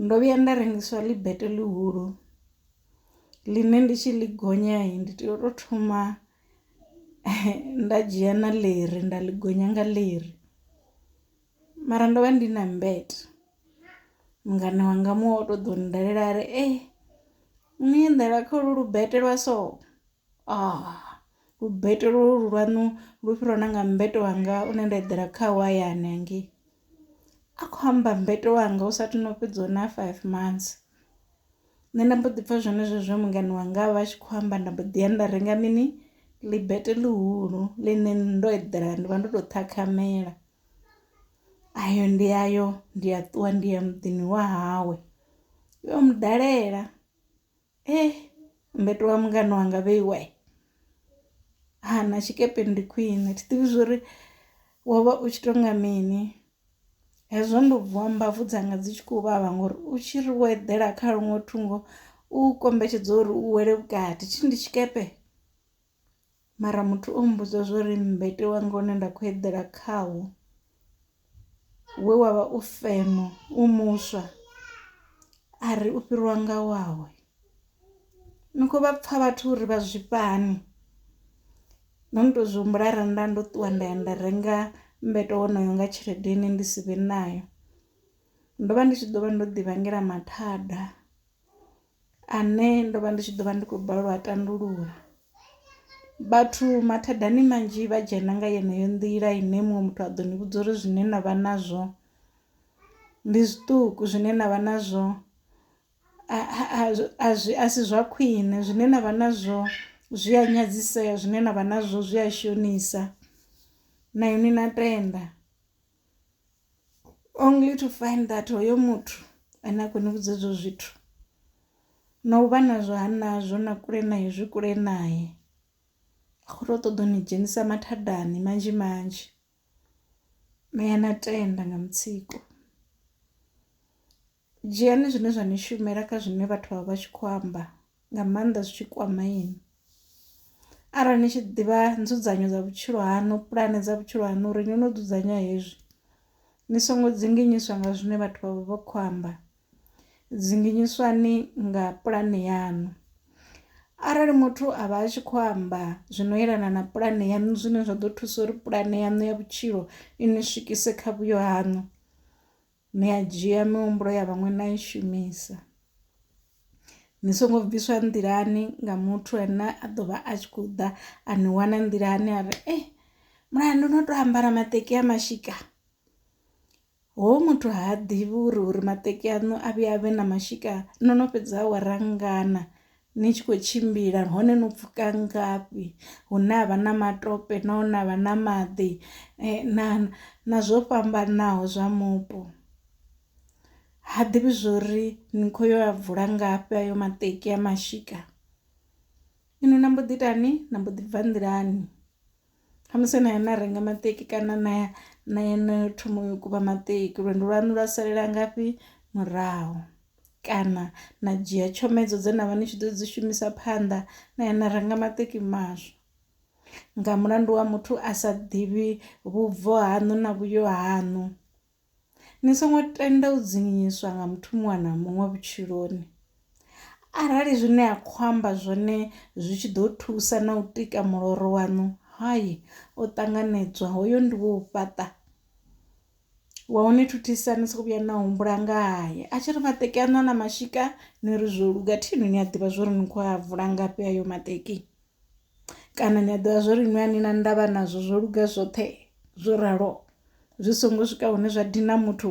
Ndo vhuya nda rengiswa ḽi bete ḽihulu ḽine ndi tshi ḽi gonya ndi tea u to thoma nda dzhia na ḽiri nda ḽi gonya nga ḽiri, mara ndo vha ndi na mmbete mungana wanga muṅwe oto ḓo dalela ari ee no eḓela kha holwu lu bete lwa so. Lubete lwo lu lwanu lu fhira na nga mmbete wanga une nda eḓela khawo hayani hangei, a kho amba mmbete wanga hu sathu no fhedza na five months. Nṋe nda mbo ḓi pfha zwenezwo zwe mungana wanga a vha a tshi khou amba nda mbo ḓi ya nda renga mini ḽibete ḽihulu ḽine ndo eḓela ndi vha ndo to ṱhakhamela, ayo ndi ayo ndi a ṱuwa ndi ya muḓini wa hawe ndi yo mu dalela. Ee mbeto wa mungana wanga vheiwe ha na tshikepe ndi khwine thi ḓivhi zwori wo vha u tshi to nga mini hezwo ndo vuwa mbabvu dzanga dzi tshi khou vhavha ngori u tshi ri wo eḓela kha luṅwe thungo u kombetshedza uri u wele vhukati thi ndi tshikepe. mara muthu o mmbudza zwa uri mmbete wanga une nda kho eḓela khawo we wavha u feno u muswa a ri u fhiriwa nga wawe. Ni kho vha pfha vhathu uri vha zwifha hani no no to zwi humbula arali nda ndo ṱuwa nda ya nda renga mmbete wonoyo nga tshelede ine ndi si vhe nayo ndo vha ndi tshi ḓo vha ndo ḓi vhangela mathada. Ane ndo vha ndi tshi ḓo vha ndi khou balelwa u a tandulula. Vhathu mathadani manzhi vha dzhena nga yeneyo nḓila ine muṅwe muthu a ḓo ni vhudza uri zwine na vha nazwo ndi zwiṱuku zwine na vha nazwo a zwi a si zwa khwiṋe zwine na vha nazwo zwi a nyadzisea zwine na vha nazwo zwi a shonisa na inwi na tenda. only to find that hoyo muthu ane a khou ni vhudza ezwo zwithu na u vha nazwo ha nazwo na kule naye zwi kule naye a khou tou ṱoḓa u ni dzhenisa mathadani manzhi manzhi na ya na tenda nga mutsiko. Dzhiani zwine zwa ni shumela kha zwine vhathu vha vha tshi khou amba nga maanḓa zwi tshi kwama inwi arali ni tshi ḓivha nzudzanyo dza vhutshilo haṋu pulane dza vhutshilo haṋu uri ni no dzudzanya hezwi ni songo dzinginyiswa nga zwine vhathu vha vha vha khou amba dzinginyiswani nga pulane yaṋu arali muthu a vha a tshi khou amba zwino yelana na pulane yaṋu zwine zwa ḓo thusa uri pulane yaṋu ya vhutshilo i ni swikise kha vhuyo haṋu ni a dzhia mihumbulo ya vhaṅwe na i shumisa ni songo bviswa nḓilani nga muthu ane a ḓo vha a tshi khou ḓa a ni wana nḓilani a ri e eh, mulayo ndo no tou ambara maṱeki a mashika ho muthu ha ḓivhi uri uri maṱeki aṋu a vhuya a vhe na mashika no no fhedza awara ngana ni tshi khou tshimbila hone no pfhuka ngafhi hune ha vha na matope na hune ha vha na maḓi na na zwo fhambanaho zwa mupo. Ha ḓivhi zwori ni kho yo a vula ngafhi ayo maṱeki a mashika inwi na mbo ḓi itani na mbo ḓi bva nḓilani. Khamusi na ya na renga maṱeki kana na ya na ya na thoma u kuvha maṱeki lwendo lwanu lwa salela ngafhi murahu, kana na dzhia tshomedzo dze na vha ni tshi ḓo dzi shumisa phanḓa na ya na renga maṱeki maswa. Nga mulandu wa muthu a sa ḓivhi vhubvo haṋu na vhuyo haṋu. Ni songo tenda u dzinginyiswa nga muthu muṅwe na muṅwe vhutshiloni. Arali zwine a khou amba zwone zwi tshi ḓo thusa na u tika muloro waṋu hayi o ṱanganedzwa hoyo ndi wo fhaṱa wa u ni thuthisa ni soko vhuya na humbula ngaye a tshi ri maṱeki aṋu a na mashika ni ri zwo luga thi inwi ni a ḓivha zwori ni kho a vula ngafhi ayo maṱeki. kana ni a ḓivha zwori inwi a ni na ndavha nazwo zwo luga zwoṱhe zwo ralo zwi songo swika hune zwa dina muthu .